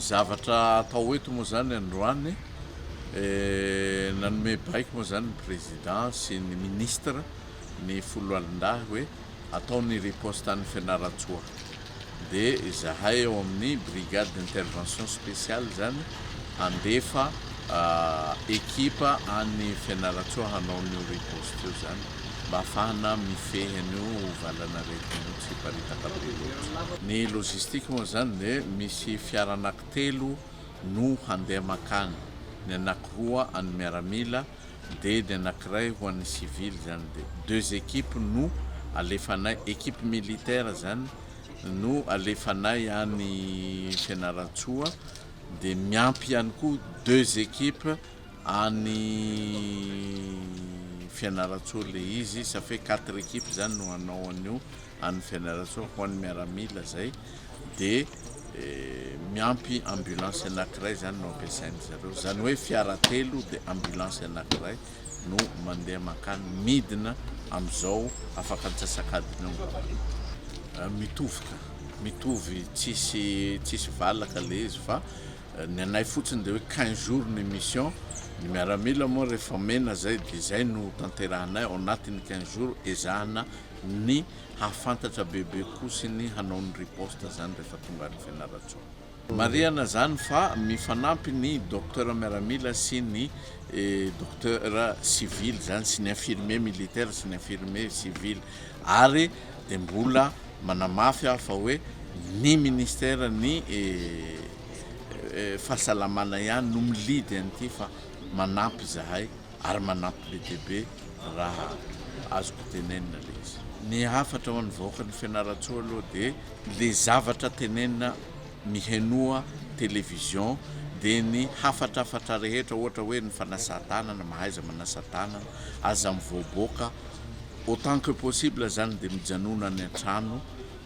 zavatra atao eto moa zany androany eh, nanome baiko moa zany ny président sy ny ministre ny foloalindahy hoe ataony riposte any fianaratsoa dia izahay ao amin'ny Brigade d'intervention spéciale izany handefa ekipa any Fianarantsoa hanao an'io riposte io izany mba hahafahana mifehy an'io valan'aretina io tsy hiparitaka be loatra. Ny logistique moa izany dia misy fiara anaky telo no handeha makany, ny anaky roa an'ny miaramila Dedy anakiray ho an'ny civil zany de deux équipes no alefanay équipe militaire zany no alefanay any Fianarantsoa de miampy ihany koa deux équipes any Fianarantsoa le izy ça fait quatre équipes zany no hanao an'io any Fianarantsoa ho an'ny miaramila zay. dia miampy ambulance anankiray izany no ampiasain-dry zareo. Izany hoe fiara telo dia ambulance anankiray no mandeha mankany, midina amin'izao afaka antsasak'adiny eo angamba. Mitovy ka, mitovy tsisy tsisy valaka ilay izy fa ny anay fotsiny dia hoe quinze jours ny mission, ny miaramila moa rehefa mena izay dia izay no tanterahanay ao anatin'ny quinze jours ezahana ny hahafantatra bebe koa sy ny hanao ny riposte izany rehefa tonga any Fianarantsoa. Marihana izany fa mifanampy ny Docteur miaramila sy ny Docteur civil izany sy ny infirmier militaire sy ny infirmier civil ary dia mbola manamafy aho fa hoe ny Ministère ny Fahasalamana ihany no mi-lead an'ity fa manampy izahay. ary manampy be dia be raha azoko tenenina le izy. Ny hafatra ho an'ny vahoakan'i Fianarantsoa aloha dia le zavatra tenenina mihenoa television dia ny hafatrafatra rehetra ohatra hoe ny fanasan-tanana, mahaiza manasa-tanana, aza mivoaboaka, autant que possible zany dia mijanona any an-trano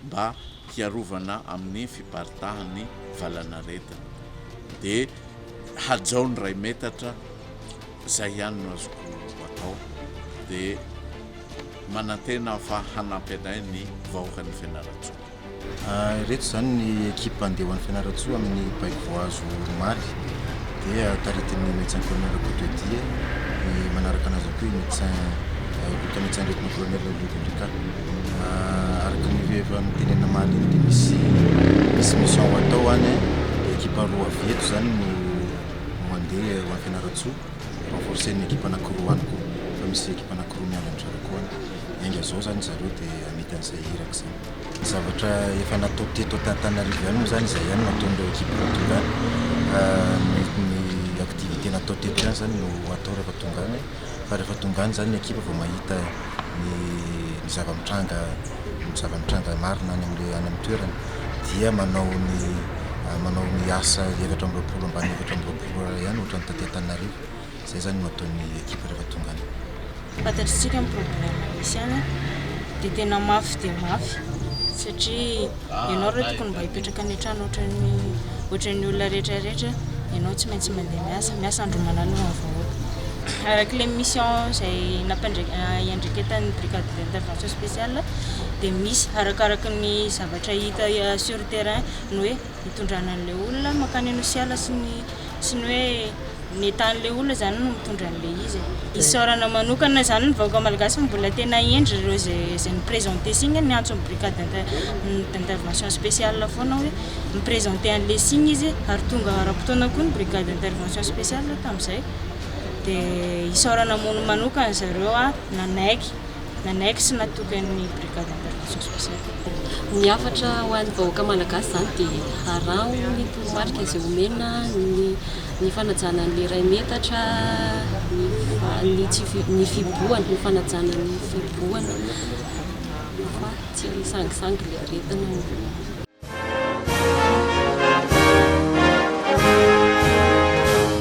mba hiarovana amin'ny fiparitahan'ny valanaretina dia hajao ny iray metatra izay ihany no azoko atao dia manantena aho fa hanampy anay ny vahoakan'ny Fianarantsoa. Ireto izany ny ekipa andeha ho an'ny Fianarantsoa amin'ny Baiboazo omaly dia taritin'ny Médecin Colonel Rakotodia, ny manaraka anazy ihany koa i Médecin Loka Médecin Lieutenant Colonel Lindon Ricard. Araka ny efa notenenina mahaloha dia misy misy mission ho atao any eh. Dia ekipa roa avy eto izany no no mandeha ho any Fianarantsoa. Renforcer ny ekipa anankiroa any koa fa misy ekipa anankiroa miandry an-dry zareo koa any. Enga izao izany ry zareo dia hamita an'izay hiraka izany. Ny zavatra efa natao teto Antananarivo ihany moa izany izay ihany no ataon'ireo ekipa roa tonga any. Ny ny activité natao teto ihany izany no atao rehefa tonga any. fa rehefa tonga any zany ny ekipa vao mahita ny ny zava-mitranga ny zava-mitranga marina any amin'ilay any amin'ny toerana dia manao ny manao ny asa efatra amby roapolo ambany efatra amby roapolo ora ihany ohatran'ny taty Antananarivo izay zany no ataon'ny ekipa rehefa tonga any. Fantatr'isika ny problème misy any dia tena mafy dia mafy satria ianao aloha tokony mba hipetraka any an-trano ohatran'ny ohatran'ny olona rehetra rehetra ianao tsy maintsy mandeha miasa miasa andro manalina ny vahoaka araka ilay mission izay nampandraika iandraiketan'ny brigade d'intervention spéciale dia misy arakaraka ny zavatra hita sur terrain ny hoe hitondrana an'ilay olona mankany anosiala sy ny Tsy ny hoe ny etan'ilay olona izany no mitondra an'ilay izy e. Isaorana manokana izany ny vahoaka malagasy fa mbola tena hendry ireo izay izay mi-presenter signe, niantso ny brigade inter- d'intervention spéciale foana hoe mi-presenter an'ilay signe izy ary tonga ara-potoana koa ny brigade d'intervention spéciale tamin'izay. Dia isaorana mano- manokana zareo nanaiky. Nanaiky sy natoky ny Brigade Intervention Spéciale koa. Ny hafatra ho an'ny vahoaka malagasy izany dia araho ny toromarika izay omena ny ny fanajana ny iray metatra, ny ny tsy fi- ny fibohana, ny fanajana ny fibohana fa tsy sangisangy ilay aretina no.